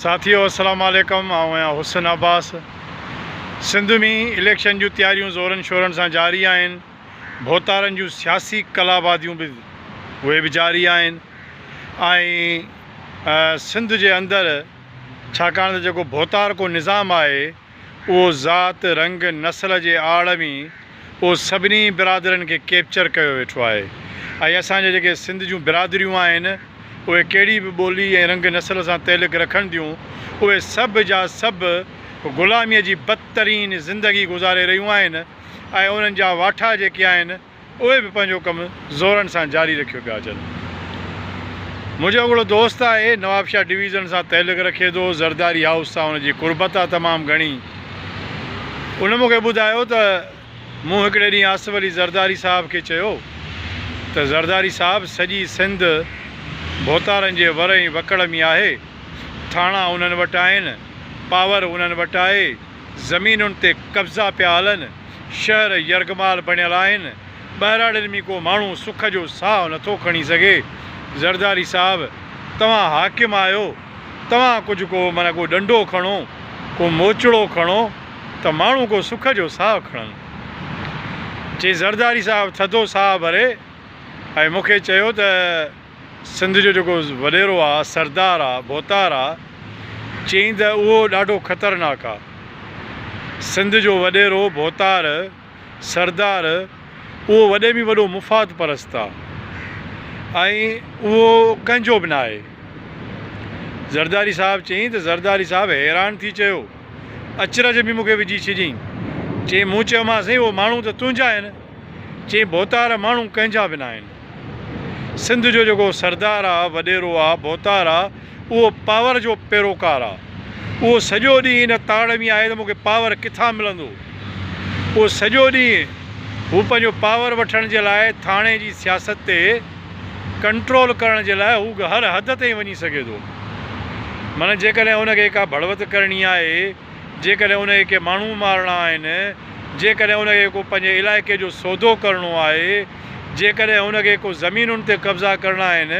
ساٿيو السلام عليڪم آئون آهيان حسن عباس سنڌ ۾ اليڪشن جون تياريون زورن شورن سان جاري آهن ڀوتارن جون سياسي ڪلاباديون به اهي به جاري آهن ۽ سنڌ جي اندر ڇاڪاڻ ته جيڪو ڀوتار ڪو نظام آهي اهو ذات، رنگ، نسل جي آڙ ۾ اهو سڀني برادرين کي ڪيپچر ڪيو ويٺو آهي ۽ اسان جي جيڪي سنڌ جون برادريون آهن اهي ڪهڙي به ٻولي ۽ رنگ نسل سان تعلق رکن ٿيون اهي سڀ جا سڀ غلاميء جي بدترين زندگي گذاري رهيون آهن ۽ انهن جا واٺا جيڪي آهن اهي به پنهنجو ڪم زورن سان جاري رکيو پيا اچن. منهنجو هڪڙو دوست آهي، نوابشاهه ڊويزن سان تعلق رکي ٿو، زرداري هائوس سان ان جي قربت آهي تمام گهڻي. ان مون کي ٻڌايو ته مون هڪڙي ڏينهن آصف علي زرداري صاحب کي چيو ته زرداري صاحب سڄي سنڌ ڀوتارن جي ور ۽ وڪڙ ۾ آهي، ٿاڻا انهن وٽ آهن، پاور انهن وٽ آهي، زمينن تي قبضا پيا هلن، شهر يرغمال بڻيل آهن، ٻهراڙين ۾ ڪو ماڻهو سک جو ساهه نٿو کڻي سگهي، زرداري صاحب توهان حاڪم آهيو، توهان ڪجهه ڪو معنيٰ ڪو ڏنڊو کڻو، ڪو موچڙو کڻو ته ماڻهو ڪو سک جو ساهه کڻن. چي زرداري صاحب ٿڌو ساهه ڀري ۽ مون کي چيو ته. سنڌ جو جيڪو وڏيرو آ، سردار آ، ڀوتار آ، چيائين ته اهو ڏاڍو خطرناڪ آ. سنڌ جو وڏيرو، ڀوتار، سردار اهو وڏي ۾ وڏو مفاد پرست آ ۽ اهو ڪنهن جو به ناهي. زرداري صاحب چيائين ته زرداري صاحب حيران ٿي چيو، اچرج ۾ مون کي وجهي ڇڏيائين. چيائين مون چيومانس سائين اهو ماڻهو ته تنهنجا آهن. چيائين ڀوتار ماڻهو ڪنهن جا به ناهن. سنڌ جو جيڪو سردار آ، وڏيرو آ، ڀوتار آ، اهو پاور جو پيروڪار آ. اهو سڄو ڏينهن ان تاڙ ۾ آهي ته مون کي پاور ڪٿان ملندو. اهو سڄو ڏينهن هو پنهنجو پاور وٺڻ جي لاء ٿاڻي جي سياست تي ڪنٽرول ڪرڻ جي لاء هو هر حد تائين وڃي سگهي ٿو. معنيٰ جيڪڏهن هن کي ڪا ڀڙوت ڪرڻي آهي. جيڪڏهن ان کي ڪي ماڻهو مارڻا آهن، جيڪڏهن ان کي ڪو پنهنجي علائقي جو سودو ڪرڻو آهي، جيڪڏهن ان کي ڪو زمينن تي قبضا ڪرڻا آهن،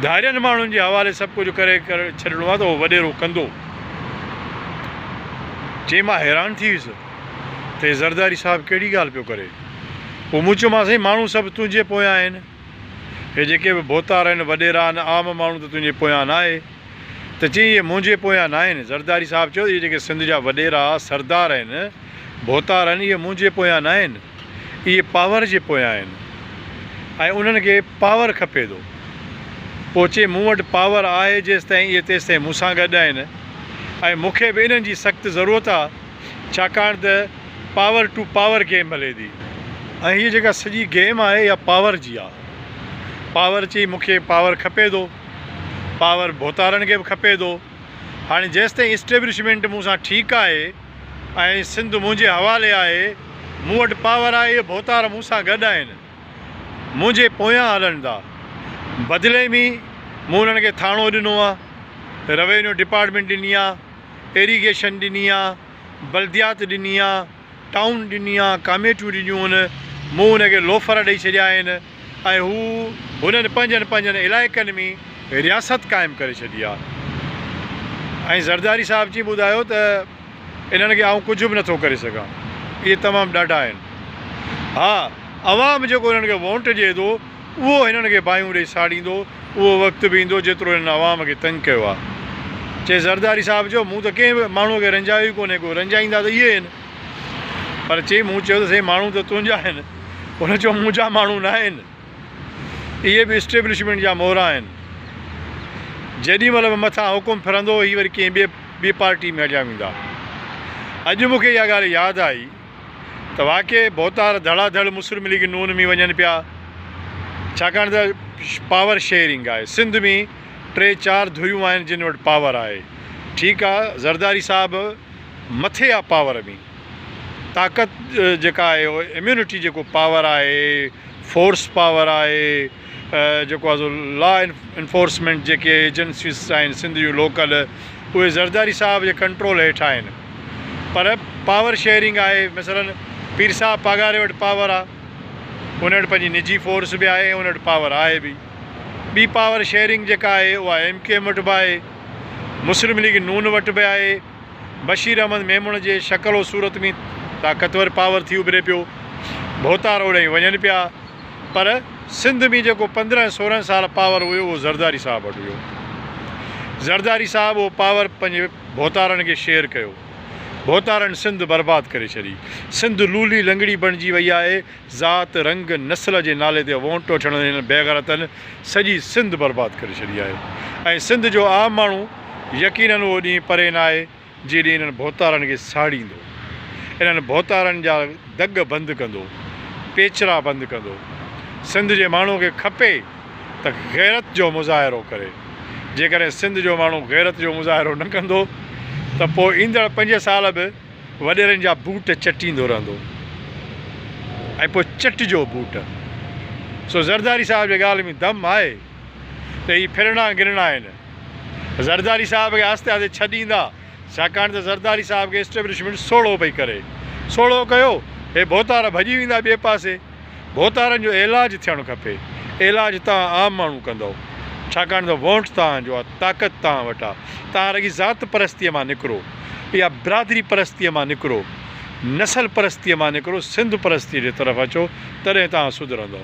ڌارين ماڻهن جي حوالي سڀ ڪجهه ڪري ڇڏڻو آهي ته اهو وڏيرو ڪندو. چي مان حيران ٿي ويس ته هي زرداري صاحب ڪهڙي ڳالهه پيو ڪري. پوء مون چيو مانس سائين ماڻهو سڀ تنهنجي پويان آهن. هي جيڪي به ڀوتار آهن، وڏيرا آهن، عام ماڻهو ته تنهنجي پويان ناهي. ته چيائين اهي منهنجي پويان ناهن. زرداري صاحب چيو ته اهي جيڪي سنڌ جا وڏيرا، سردار آهن، ڀوتار آهن اهي منهنجي پويان ناهن اهي پاور جي پويان آهن ۽ انهن کي پاور کپي ٿو. پوء چيائين مون وٽ پاور آهي جيستائين اهي تيستائين مون سان گڏ آهن ۽ مون کي به انهن جي سخت ضرورت آهي ڇاڪاڻ ته پاور ٽو پاور گيم هلي ٿي. ۽ هيء جيڪا سڄي گيم آهي اها پاور جي آهي. پاور چيائين مون کي پاور کپي ٿو. پاور ڀوتارن کي به کپي ٿو. هاڻي جيستائين اسٽيبلشمينٽ مون سان ٺيڪ آهي ۽ سنڌ منهنجي حوالي آهي، مون وٽ پاور آهي، اهي ڀوتار مون سان گڏ آهن، منهنجي پويان هلن ٿا. بدلي ۾ مون انهن کي ٿاڻو ڏنو آهي، روينيو ڊپارٽمينٽ ڏني آهي، ايريگيشن ڏني آهي، بلديات ڏني آهي. ٽائون ڏني آ، ڪاميٽيون ڏنيون هن، مون هن کي لوفر ڏئي ڇڏيا آهن ۽ هو هنن پنهنجن پنهنجن علائقن ۾ رياست قائم ڪري ڇڏي آ ۽ زرداري صاحب چي ٻڌايو ته انهن کي آئون ڪجهه به نٿو ڪري سگهان اهي تمام ڏاڍا آهن ها عوام جيڪو انهن کي وونٽ ڏئي ٿو اهو هنن کي باهيون ڏئي ساڙيندو، اهو وقت به ايندو جيترو هنن عوام کي تنگ ڪيو آهي. چي زرداري صاحب چيو مون ته ڪنهن به ماڻهوء کي رنجايو ئي ڪونهي ڪو، رنجائيندا ته اهي هن. پر چي مون چيو ته سائين ماڻهو ته تنهنجا آهن. هن چيو منهنجا ماڻهو ناهن، اهي به اسٽيبلشمينٽ جا مورا آهن. جيڏي مهل به مٿان حڪم ڦرندو هي وري ڪنهن ٻئي پارٽي ۾ هليا ويندا. اڄ مون کي اها ڳالهه ياد آئي. ته واقعي ڀوتار ڌڙا ڌڙ مسلم ليگ نون ۾ وڃن پيا ڇاڪاڻ ته پاور شيئرنگ آهي سنڌ ۾ ٽي چار ڌريون آهن جن وٽ پاور آهي ٺيڪ آ زرداري صاحب مٿي آ پاور ۾ طاقت جيڪا آهي اميونٽي جيڪو پاور آهي فورس پاور آهي. جيڪو ايز او لا انفورسمينٽ جيڪي ايجنسيز آهن سنڌ جون لوڪل اهي زرداري صاحب جي ڪنٽرول هيٺ آهن پر پاور شيئرنگ آهي مثلا پير صاحب پاڳاري وٽ پاور آهي ان وٽ پنهنجي نجي فورس به آهي ان وٽ پاور آهي به ٻي پاور شيئرنگ جيڪا آهي اها ايم ڪيو ايم وٽ به آهي مسلم ليگ نون وٽ به آهي بشير احمد ميمڻ جي شڪل و صورت ۾ طاقتور پاور ٿي اڀري پيو. ڀوتار اوڏانهين وڃن پيا پر سنڌ ۾ جيڪو پندرهن سورهن سال پاور هيو اهو زرداري صاحب وٽ هيو. زرداري صاحب اهو پاور پنهنجي ڀوتارن کي شيئر ڪيو. ڀوتارن سنڌ برباد ڪري ڇڏي. سنڌ لولي لنگڙي بڻجي وئي آهي ذات، رنگ، نسل جي نالي تي وونٽ وٺڻ هنن بيغيرتن سڄي سنڌ برباد ڪري ڇڏي آهي ۽ سنڌ جو عام ماڻهو يقينن اهو ڏينهن پري ناهي جي ڏينهن انهن ڀوتارن کي ساڙيندو انهن ڀوتارن جا دڳ بند ڪندو پيچرا بند ڪندو سنڌ جي ماڻهو کي کپي ته غيرت جو مظاهرو ڪري جيڪڏهن سنڌ جو ماڻهو غيرت جو مظاهرو نه ڪندو ته پوء ايندڙ پنج سال به وڏيرن جا بوٽ چٽيندو رهندو ۽ پوء چٽجو بوٽ. سو زرداري صاحب جي ڳالهه ۾ دم آهي ته هي ڦرڻا گرڻا آهن. زرداري صاحب کي آهستي آهستي ڇڏيندا، ڇاڪاڻ ته زرداري صاحب کي اسٽيبلشمينٽ سوڙهو پئي ڪري. سوڙهو ڪيو، هي ڀوتار ڀڄي ويندا ٻئي پاسي. ڀوتارن جو عيلاج ٿيڻ کپي، عيلاج توهان عام ماڻهو ڪندؤ، ڇاڪاڻ ته وونٽ توهان جو آ، طاقت توهان وٽ آ، توهان رڳي ذات پرستيء مان نڪرو، اها برادري پرستيء مان نڪرو، نسل پرستيء مان نڪرو، سنڌ پرستيء جي طرف اچو، تڏهن توهان سڌرندؤ.